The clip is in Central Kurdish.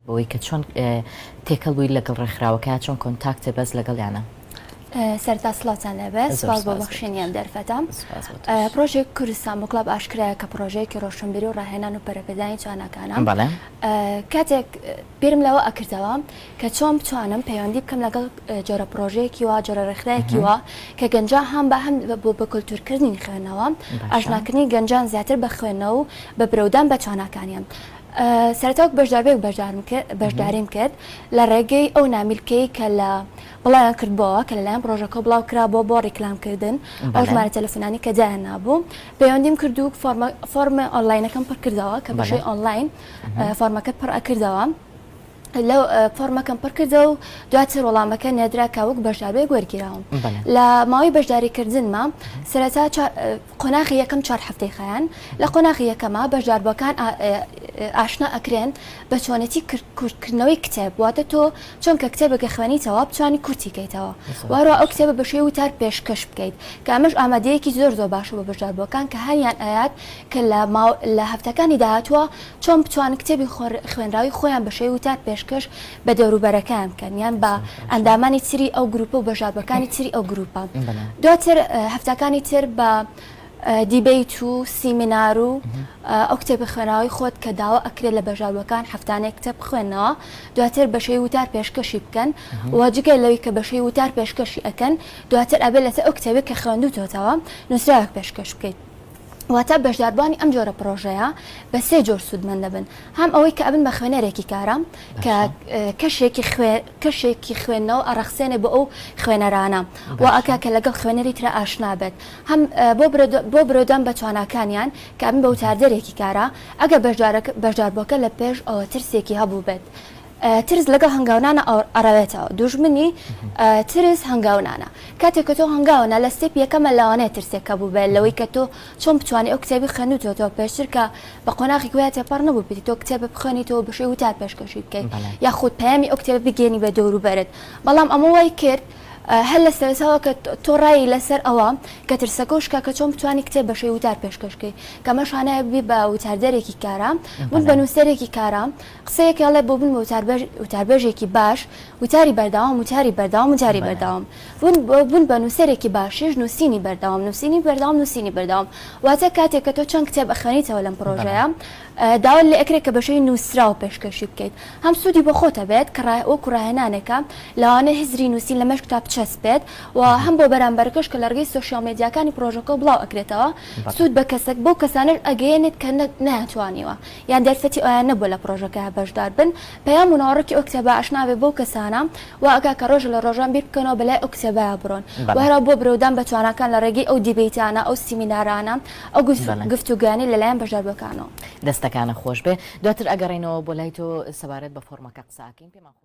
بەوەی کە چۆن تێکەڵ بووی لەگەڵ ڕێکخراوەکە چۆن کۆنتاکتە بەس لەگەڵیانە؟ سەرتا سڵاتان لەبەر سپاس بۆ بەخشێنیان دەرفەتە پرۆژێ کوردستان بۆ کلاب ئاشکرایە کە پرۆژەیەکی ڕۆشنبیری و ڕاهێنان و پەرەپێدانی تواناکانە کاتێک بیرم لەوە ئەکردەوە کە چۆن بتوانم پەیوەندی بکەم لەگەڵ جۆرە پرۆژەیەکی وا جۆرە ڕێکخراەکی وە کە گەنجا هەم بە هەم بۆ بە کللتورکردنی خوێنەوە ئاشناکردنی گەنجان زیاتر بە خوێنە و بە برەودان بە تواناکانیان سەرەتا وەک بەشداربەیەک بەشدارم کرد بەشداریم کرد لە ڕێگەی ئەو نامیلکەی کە لە بڵاویان کردبەوە کە لەلایەن پرۆژەکە بڵاو کرا بۆ بۆ ڕیکلامکردن ئەو ژمارە تەلەفۆنانی کە جایان نابوو پەیوەندیم کرد و فۆرمە فۆرمە ئۆنلاینەکەم پڕکردەوە کە بەشەی ئۆنلاین فۆرمەکەت پڕ ئەکردەوە لە فۆرمەکەم پڕکردەوە و دواتر وەڵامەکە نێردرا کە وەک بەشداربێک وەرگیراوم لە ماوەی بەشداری کردنمە سەرەتا قۆناخی یەکەم چوار هەفتەی خیان لە قۆناخی یەکەمە بەشداربووەکان ئاشنا ئەکرێن بە چۆنێتی کورتکردنەوەی کتێب واتە تۆ چۆنکە کتێبە کە خوێنیتەوە بتوانانی کورتی کەیتەوە وارۆ ئەو کتێبە بەشێ وتار پێشکەش بکەیت کە ئەمەش ئامادەیەکی زۆر زۆر باشە بە بەشداربووەکان کە هەریان ئاات کە لە هەفتەکانی داهاتوە چۆن بتوانن کتێبی خوێنراوی خۆیان بە شێوەی وتار پێشکەش بە دەوروبەرەکەیان بکەن یان بە ئەندامانی تری ئەو گروپە و بەژاردوەکانی تری ئەو گروپە دواتر هەفتەکانی تر بە دیبیت و سیمینار و ئەو کتێبی خوێنراوی خۆت کە داوا ئەکرێت لە بەژاروەکان هەفتانێک کتێب بخوێنەوە دواتر بەشەی وتار پێشکەشی بکەن و جگە لەوی کە بەشەی وتار پێشکەشی ئەەکەن دواتر ئەبێت لەسەر ئەو کتێبێک کە خوێندوتەوە نووسراوێک پێشکەش بکەیت واتە بەشداربووانی ئەم جۆرە پرۆژەیە بە سێ جۆر سوودمەند دەبن هەم ئەوەی کە ئەبن بە خوێنەرێکی کارە کە کەشێکی کەشێکی خوێندنەوە ئەڕەخسێنێ بۆ ئەو خوێنەرانە و ئەکا کە لەگەڵ خوێنەری ترە ئاشنا بێت هەم بۆ برۆدان بە تواناکانیان کە ئەبن بە وتاردەرێکی کارە ئەگە بەشدارەکە بەشداربووەکە لە پێش ئەوە ترسێکی هەبوو بێت ترس لەگەڵ هەنگاونانە ئەڕەوێتەوە دوژمنی ترس هەنگاونانە کاتێک کە تۆ هەنگاونە لە ستێپ یەکەمە لەوانەیە ترسێک کە بوو بێت لەوەی کە تۆ چۆن بتوانانی ئەو کتێبی خوێنوتەوە پێشتر کە بە قۆناغی گویا تێپەڕ نەبوو بیت تۆ کتێبە بخوێنی تۆ بشی وتا پێشکەشی بکەیت یاخود پەیامی ئەو کتێبە بگەێنی بە دەور و بەرت بەڵام ئەمە وای کرد هەر لە سەرەتاوە کە تۆ ڕایی لەسەر ئەوە کە ترسەکە و شکا کە چۆن بتوانانی کتێب بەشەی وتار پێشکەشکەی کەمە شانایە ببی بە وتاردەرێکی کارام بوو بە نووسەرێکی کارام قسەیەک ئەڵێ بۆ بن بە وتاربێژ وتاربێژێکی باش وتاری بەردەوام وتاری بەردەوام وتاری بەردەوام بون بۆ بن بە نووسەرێکی باشیش نووسینی بەردەوام نووسینی بەردەوام نووسینی بەردەوام واتە کاتێک کە تۆ چەند کتێب ئەخوێنیتەوە لەم پڕۆژەیە داوات لێ ئەکرێ کە بە شێوەی نووسراو پێشکەشی بکەیت هەم سوودی بۆ خۆت ئەبێت کە ڕا وەکوو ڕاهێنانێکە لەوانەیە هزری نووسین لەمێشک تا بچەسپێت و هەم بۆ بەرامبەرەکەش کە لە ڕێگەی سۆشیاڵ مێدیاکانی پڕۆژەکە بڵاو ئەکرێتەوە سوود بە کەسەک بەو کەسانەش ئەگەیەنێت کە نە نەیانتوانیوە یان دەرفەتی ئەویان نەبووە لە پڕۆژەکە بەشدار بن، پەیام و ناوەڕۆکی ئەو کتێبە ئاشنا بێ بەو کەسانە، وا ئەکا کە ڕۆژێ لە ڕۆژان بیر بکەنەوە بە لای ئەو کتێبەیا بڕۆن و هەر وا بۆ برەودان بە تواناکان لە ڕێگەی ئەو دیبەیتانە، ئەو سیمینارانە، ئەو گفتوگۆیانەی لە لایەن بەشداربووەکانەوە. دەستەکانت خۆش بێ. دواتر ئەگەڕێینەوە بۆ لای تۆ سەبارەت بە فۆڕمەکە قسە ئەکەین. پێمان خۆشە.